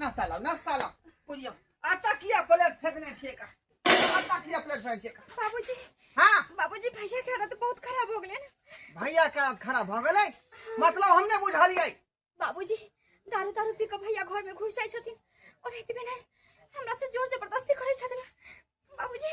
नाश्ता लाओ नाश्ता लाओ बुझियो आ तकिया प्लेट फेंकने छिए का आ तकिया प्लेट फेंक छिए का बाबूजी हां बाबूजी भैया के आदत बहुत खराब हो गेले ना भैया के आदत खराब हो गेले मतलब हमने बुझलिए बाबूजी दारू दारू पी के भैया घर में घुस जाय छथिन और एतबे नहीं हमरा से जोर जबरदस्ती करे छथिन बाबूजी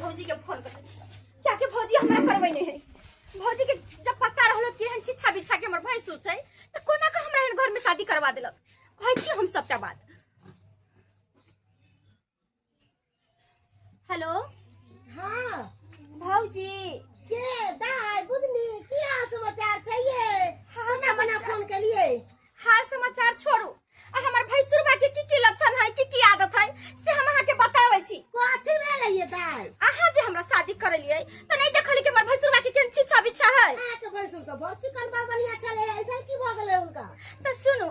भौजी के फोन करे छी क्या के भौजी हमरा करबै नै है भौजी के जब पता रहलो कि हम छिछा बिछा के हमर भैंस छै त कोना के हमरा एहन घर में शादी करवा देलक कहै छी हम सबटा बात हेलो हाँ भौजी के दाय बुझली की हाल समाचार छै ये हाल बना बना समाचार- फोन केलिए हाल समाचार छोड़ू आ हमर भैंसुरबा के की की लक्षण है की की आदत है से हम अहाँ के बताबै छी कथी भेलै ये दाय अहाँ जे हमरा शादी करलियै त नहीं देखली कि हमर भैंसुरबा के केन छिछा बिछा है अहाँके भैंसुर तऽ बड़ चिकन बड़ बढ़िया छलै ऐसन की भऽ गेलै हुनका त सुनू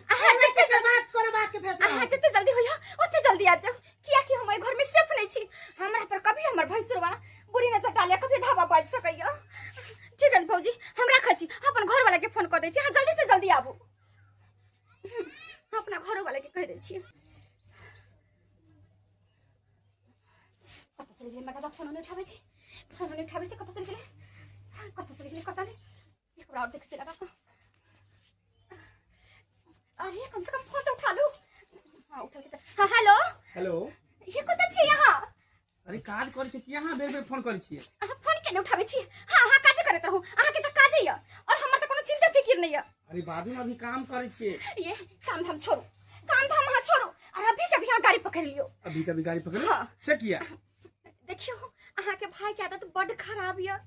अहाँ जते जल्दी बात कोनो बात के फैसला अहाँ जते जल्दी होइया ओते जल्दी आबि जाउ किया कि हम एहि घर में सेफ नहीं छी हमरा पर कभी हमर भैंसुरवा बुरी नजर डाले कभी धावा बाज सकैया ठीक अछि भौजी हम राखै छी अपन घर वाला के फोन क दै छी अहाँ जल्दी से जल्दी आबू हम अपना घरो वाला के कह दै छी कतऽ चलि गेलै मटाबा फोन नहि उठाबै छै फोन नहि उठाबै छै कतऽ चलि गेलै कतऽ चलि गेलै कतऽ नहि थोड़ा और देख लगा अरे कम से कम फोन तो उठा लो हां उठा के हां हेलो हेलो ये कत छी यहां अरे काज कर छी यहां बेर बेर फोन कर छी हां फोन के उठाबे छी हां हां काज करत रहू अहां के त काज है और हमर त कोनो चिंता फिकिर नहीं है अरे बाबू अभी काम कर छी ये काम धाम छोड़ो काम धाम हां छोड़ो और अभी कभी हां गाड़ी पकड़ लियो अभी कभी गाड़ी पकड़ हां से किया देखियो अहा के भाई के आदत बड खराब या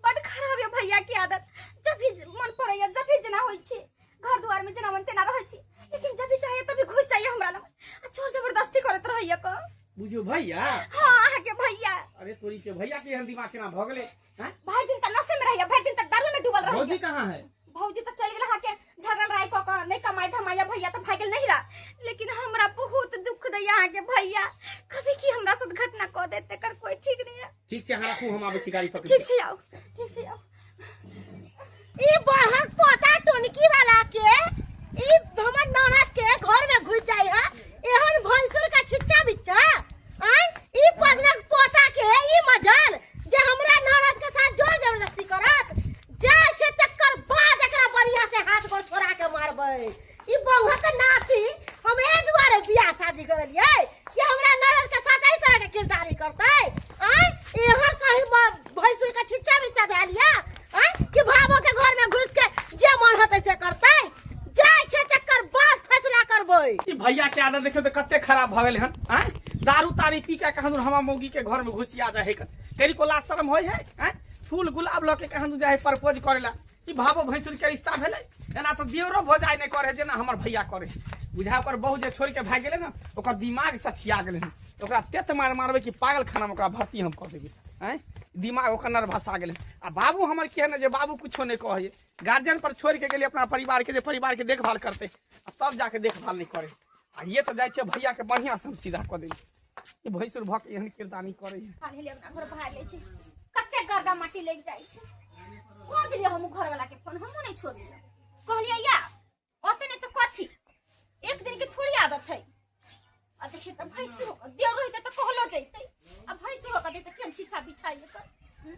बड खराब या भैया के आदत जब भी मन पड़े या जब भी जना होई छी घर द्वार में जना मन तेना रहे छी लेकिन जब भी चाहे तभी घुस जाइए हमरा लग आ चोर जबरदस्ती करत रहैया को बुझियो भैया हाँ अहा के भैया अरे तोरी के भैया के एहन दिमाग केना भऽ गेलै हाँ? भर दिन त नशे में रहिला भर दिन त दारू में डूबल भौजी रहिला कहाँ है भौजी त चल गेला के झगड़ल राय क क नहीं कमाई धमाया भैया त भागल नहीं रा लेकिन हमरा बहुत दुख दैया अहाँ के भैया कभी की हमरा साथ घटना क देते कर कोई ठीक नहीं है ठीक छै अहाँ राखू हम आबै छी गाड़ी पकड़ि ठीक छै आओ ठीक छै आओ ई बहक पोता टोनकी वाला के ई हमर ननद के घर में घुस जाई है एहन भैंसुर का छिच्चा बिच्चा आय ई पदनक पोता के ई मजल जे हमरा ननद के साथ जोर जबरदस्ती करत जाय छै तकर बाद एकरा बढ़िया से हाथ गोड़ छोड़ा के मारबै ई बउआ के नाती हम ए दुआरे बियाह शादी करलिए कि हमरा नरल के साथ एहि तरह के किरदारी करते आय एहर कहीं ब- भैंसुर के छिच्चा बिच्चा भेलिया आय कि भावो के घर में घुस के जे मन होते से करते जाय छे तकर बाद फैसला करबै ई भैया के आदत देखियो तो कते खराब भगल हन आय दारू तारी पी के कहन हमा मौगी के घर में घुसिया जाए कन तेरी को लाज शर्म होय है आय फूल गुलाब लके कहन जाए प्रपोज करेला ई भावो भैंसुर के रिश्ता भेलै एना तऽ दियरो भोजाइ नहि करे जेना हमर भैया करे बुझा ओकर बहु जे छोड़ के भाग गेलै ने ओकर दिमाग सठिया गेलै हन। ओकरा तेत मार मारबै कि पागल खाना में ओकरा भर्ती हम कऽ देबै आँय दिमाग ओकर नर्भसा गेलै आ बाबू हमर के ने जे बाबू कुछो नहि कहै गार्जियन पर छोड़ के गेलै अपना परिवार के जे परिवार के देखभाल करतै आ तब जाके देखभाल नहि करे आ ये तऽ जाइ छै भैया के बढ़िया से हम सीधा कऽ देली ई भैसुर भक एहन किरदानी करे काल्हि ले अपना घर भाग ले छै कते गर्दा माटी लग जाइ छै कह दिलियै हम घर वाला के फोन हमहू नहीं छोड़लियै कहलियै या ओते नहीं तो कथी एक दिन के थोड़ी आदत है आ देखिए तो भैंसू होकर देव रहते तो कहलो जैते आ भैंसू होकर देते फेन छीछा बिछाइए कर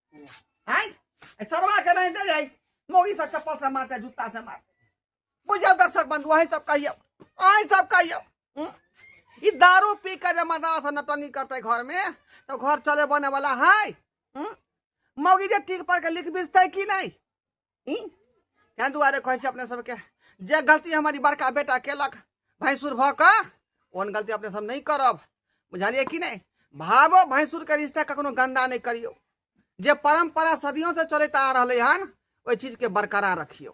हैं सरवा के नहीं दे जाई मोगी से चप्पल से मारते जूता से मारते बुझल दर्शक बंधु वही सब कहियो वही सब कहियो हम्म? ई दारू पी के जे मजा से नटंगी करते घर में तो घर चले बने वाला है हम्म? मौगी जे टीक पर के लिख बिजते कि नहीं ताहि दुआरे कहै छी अपने सबके जे गलती हमारी बड़का बेटा केलक भैंसुर भऽ कऽ ओहन गलती अपने सब नहि करब बुझलियै कि नहि भावो भैंसुरके रिश्ता कखनो गन्दा नहि करियौ जे परम्परा सदियोसँ चलैत आ रहलै हन ओहि चीजके बरकरार रखियौ